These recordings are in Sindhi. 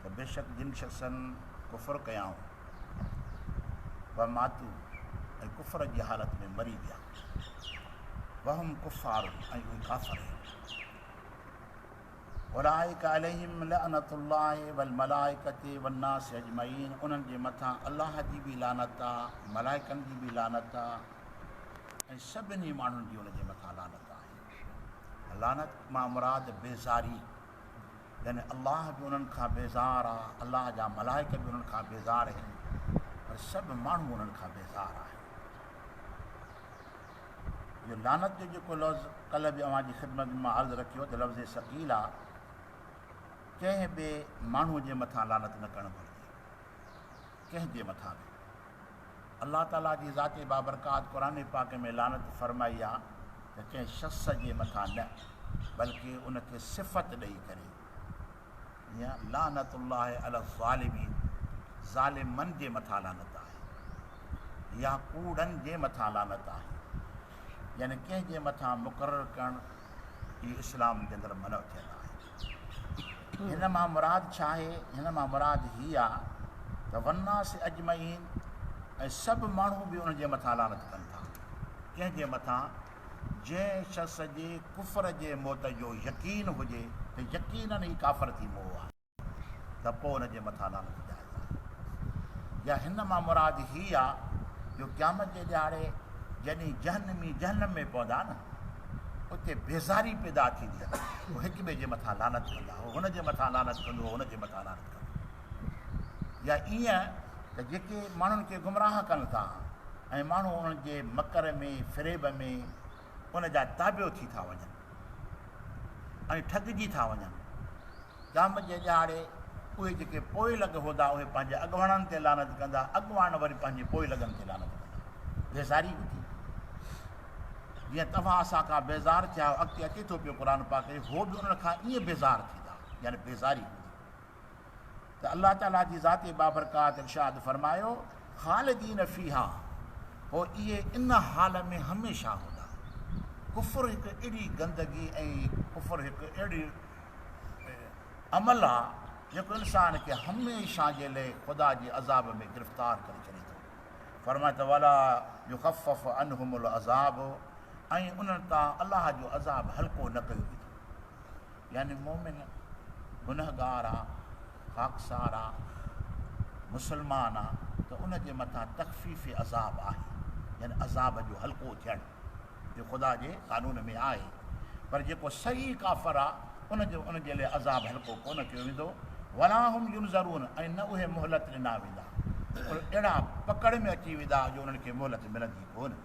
ته بيشڪ جن شخصن ڪفر ڪيائون وماتو ۽ ڪفر جي حالت ۾ مري ويا وهم ڪفار ۽ اهي ڪافر آهن اولائڪ عليهم لعنت الله والملائکه والناس اجمعين انهن جي مٿان الله جي به لعنت آهي ملائڪن جي به لعنت آهي ۽ سڀني ماڻهن جي ان جي مٿان لعنت آهي لعنت مان مراد بيزاري يعني الله به انهن کان بيزار آ، الله جا ملائڪ به انهن کان بيزار هن، پر سڀ ماڻهو انهن کان بيزار آهن. اهو لعنت جو جيڪو لفظ ڪلهه به اوهان جي خدمت ۾ مان عرض رکيو ته لفظ ثقيل آ، ڪنهن به ماڻهو جي مٿان لعنت نه ڪرڻ گهرجي، ڪنهن جي مٿان به. الله تعاليٰ جي ذات بابرڪات قرآن پاڪ ۾ لعنت فرمائي آ ته ڪنهن شخص جي مٿان نه بلڪه ان کي صفت ڏئي ڪري جيئن لعنت الله علي الظالمين ظالمن جي مٿان لعنت آهي يا ڪوڙن جي مٿان لعنت آهي يعني ڪنهن جي مٿان مقرر ڪرڻ اهو اسلام جي اندر منع ٿيل آهي. هن مان مراد ڇا آهي؟ هن مان مراد هي آ ته والناس اجمعين ۽ سڀ ماڻهو به ان جي مٿان لعنت ڪن ٿا. ڪنهن جي مٿان؟ جنهن شخص جي ڪفر جي موت جو يقين هجي ته يقيناً هي ڪافر ٿي مئو آهي ته پوء ان جي مٿان لعنت جائز آهي. يا هن مان مراد هي آ جو قيامت جي ڏهاڙي جڏهن جهنمي جهنم ۾ پوندا نه، اتي بيزاري پيدا ٿيندي آهي. هو هڪ ٻئي جي مٿان لعنت ڪندا. هو هن جي مٿان لعنت ڪندو، هو هن جي مٿان لعنت ڪندو. يا ائين ته جيڪي ماڻهن کي گمراهه ڪن ٿا ۽ ماڻهو انهن جي مڪر ۾ فريب ۾ ان جا تابع ٿي ٿا وڃن ۽ ٺڳجي ٿا وڃن. قيامت جي ڏهاڙي اهي جيڪي پوئين لڳ هوندا اهي پنهنجي اڳواڻن تي لعنت ڪندا، اڳواڻ وري پنهنجي پوئين لڳن تي لعنت ڪندا. بيزاري هوندي. جيئن توهان اسان کان بيزار ٿيا آهيو اڳتي اچي ٿو پيو قرآن پاڪ ۾ هو به انهن کان ائين بيزار ٿيندا يعني بيزاري هوندي ته الله تعالي جي ذات بابرڪات ارشاد فرمايو خالدين فيها هو اهي ان حال ۾ هميشه هوندا ڪفر هڪ اهڙي گندگي ۽ ڪفر هڪ اهڙي عمل آ جيڪو انسان کي هميشه جي لئي خدا جي عذاب ۾ گرفتار ڪري ڇڏي ٿو فرمائي ته ولا يخفف عنهم العذاب ۽ انهن تان الله جو عذاب هلڪو نه ڪيو ويندو يعني مومن گنهگار آ خاڪسار آ مسلمان آ ته ان جي مٿان تخفيف عذاب آهي يعني عذاب جو هلڪو ٿيڻ جو خدا جي قانون ۾ آهي، پر جيڪو صحيح ڪافر آ ان جو ان جي لئه عذاب هلڪو ڪونه ڪيو ويندو، ولا هم ينظرون ۽ نه اهي مهلت ڏنا ويندا، پر اهڙا پڪڙ ۾ اچي ويندا جو انهن کي مهلت ملندي ڪونه.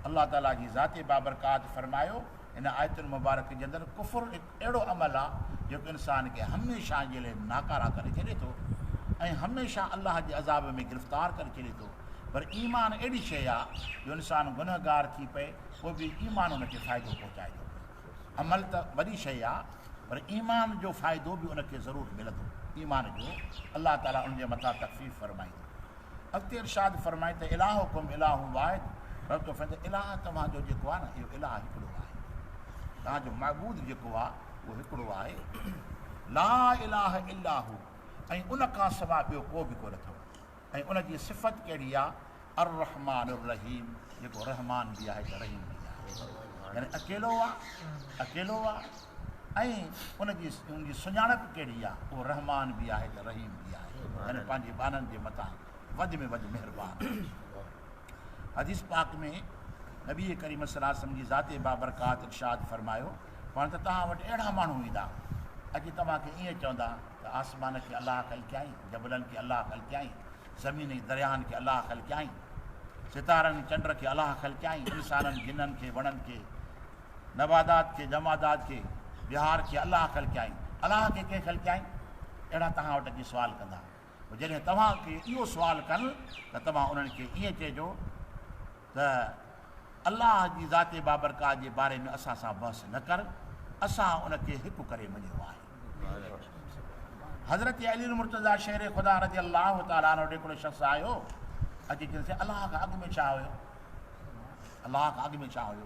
الله تعالي جي ذات بابرڪات فرمايو، هن آيتن مبارڪ جي اندر ڪفر، اهڙو عمل آ جيڪو انسان کي هميشه جي لئه ناڪاره ڪري ڇڏي ٿو ۽ هميشه الله جي عذاب ۾ گرفتار ڪري ڇڏي ٿو پر ايمان اهڙي شيء آ جو انسان گنهگار ٿي پئي پوء به ايمان ان کي فائدو پهچائي ٿو پئي عمل ته وڏي شيء آ پر ايمان جو فائدو به ان کي ضرور ملندو ايمان جو الله تعالي ان جي مٿان تخفيف فرمائيندو اڳتي ارشاد فرمائي ته الاهڪم الاهن واحد رب ٿو فرمائي ته الاهه توهان جو جيڪو آهي نه اهو الاهه هڪڙو آهي توهان جو معبود جيڪو آهي اهو هڪڙو آهي لا الاهه الاهه ۽ ان کان سواء ٻيو ڪو به ڪونه اٿو ۽ ان جي صفت ڪهڙي آهي الرحمان الرحيم جيڪو رحمان به آهي ته رحيم به آهي يعني اڪيلو آهي اڪيلو آهي ۽ ان جي سڃاڻپ ڪهڙي آهي، اهو رحمان به آهي ته رحيم به آهي يعني پنهنجي ٻانهن جي مٿان وڌ ۾ وڌ مهربان آهي. حديث پاڪ ۾ نبي ڪريم صلي الله عليه وسلم جي ذات بابرڪات ارشاد فرمايو پاڻ ته توهان وٽ اهڙا ماڻهو ايندا اچي توهان کي ائين چوندا ته آسمان کي الله خلقيائين، جبلن کي الله خلقيائين، زمين ۽ درياهن کي الله خلقيائين، ستارن ۽ چنڊ کي الله خلقيائين، انسانن، جنن کي، وڻن کي، نبادات کي، جمادات کي، بهار کي الله خلقيائين، الله کي ڪنهن خلقيائين؟ اهڙا توهان وٽ اچي سوال ڪندا. پوء جڏهن توهان کي اهو سوال ڪن ته توهان انهن کي ائين چئجو ته الله جي ذات بابرڪات جي باري ۾ اسان سان بحث نه ڪر، اسان ان کي هڪ ڪري مڃيو آهي. حضرت علي المرتضيٰ شير خدا رضي الله تعالٰي عنه ڏي هڪڙو شخص آيو، اچي چيائينس الله کان اڳ ۾ ڇا هيو؟ الله کان اڳ ۾ ڇا هيو؟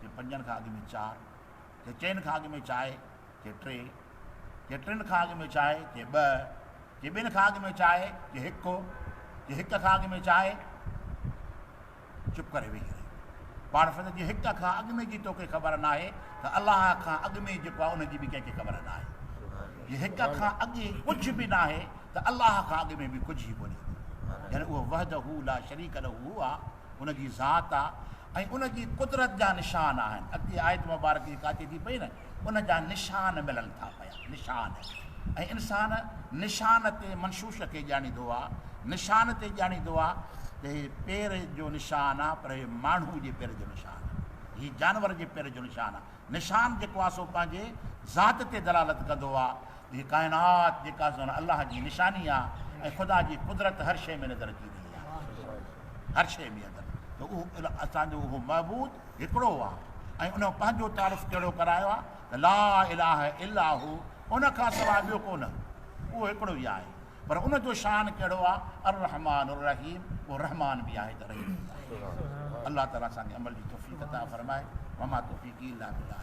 ڪي پنجن کان اڳ ۾ چار، ڪي چئن کان اڳ ۾ چائي، ڪي ٽي، ڪي ٽن کان اڳ ۾ چائي، ڪي ٻه، ڪي ٻن کان اڳ ۾ چائي، ڪي هڪ، ڪي هڪ کان اڳ ۾ چائي. چپ ڪري ويهي رهيو. پاڻ فرمايو ته جي هڪ کان اڳ ۾ جي توکي خبر ناهي ته الله کان اڳ ۾ جيڪو آهي ان جي به ڪنهن کي خبر ناهي. جي هڪ کان اڳ ڪجهه به ناهي ته الله کان اڳ ۾ به ڪجهه ئي ڪونهي هوندو. يعني اهو وحده لا شريڪ له آهي. ان جي ذات آ ۽ ان جي قدرت جا نشان آهن. اڳتي آيت مبارڪ جيڪا اچي ٿي پئي نه ان جا نشان ملن ٿا پيا. نشان ۽ انسان نشان تي منشوش کي ڄاڻيندو آ. نشان تي ڄاڻيندو آ ته هي پير جو نشان آ پر هي ماڻهو جي پير جو نشان آ. هي جانور جي پير جو نشان آ. نشان جيڪو آ سو پنهنجي ذات تي دلالت ڪندو آ هي ڪائنات جيڪا سون الله جي نشاني آ ۽ خدا جي قدرت هر شيء ۾ نظر اچي رهي آ هر شيء ۾ اندر ته اهو اسان جو اهو معبود هڪڙو آ ۽ ان پنهنجو تعارف ڪهڙو ڪرايو آ ته لا اله الا هو ان کان سواء ٻيو ڪو نه اهو هڪڙو ئي آهي پر ان جو شان ڪهڙو آ الرحمن الرحيم اهو رحمان به آهي ته رحيم به آهي الله تعالي اسان کي عمل جي توفيق عطا فرمائي وما توفيقي الا بالله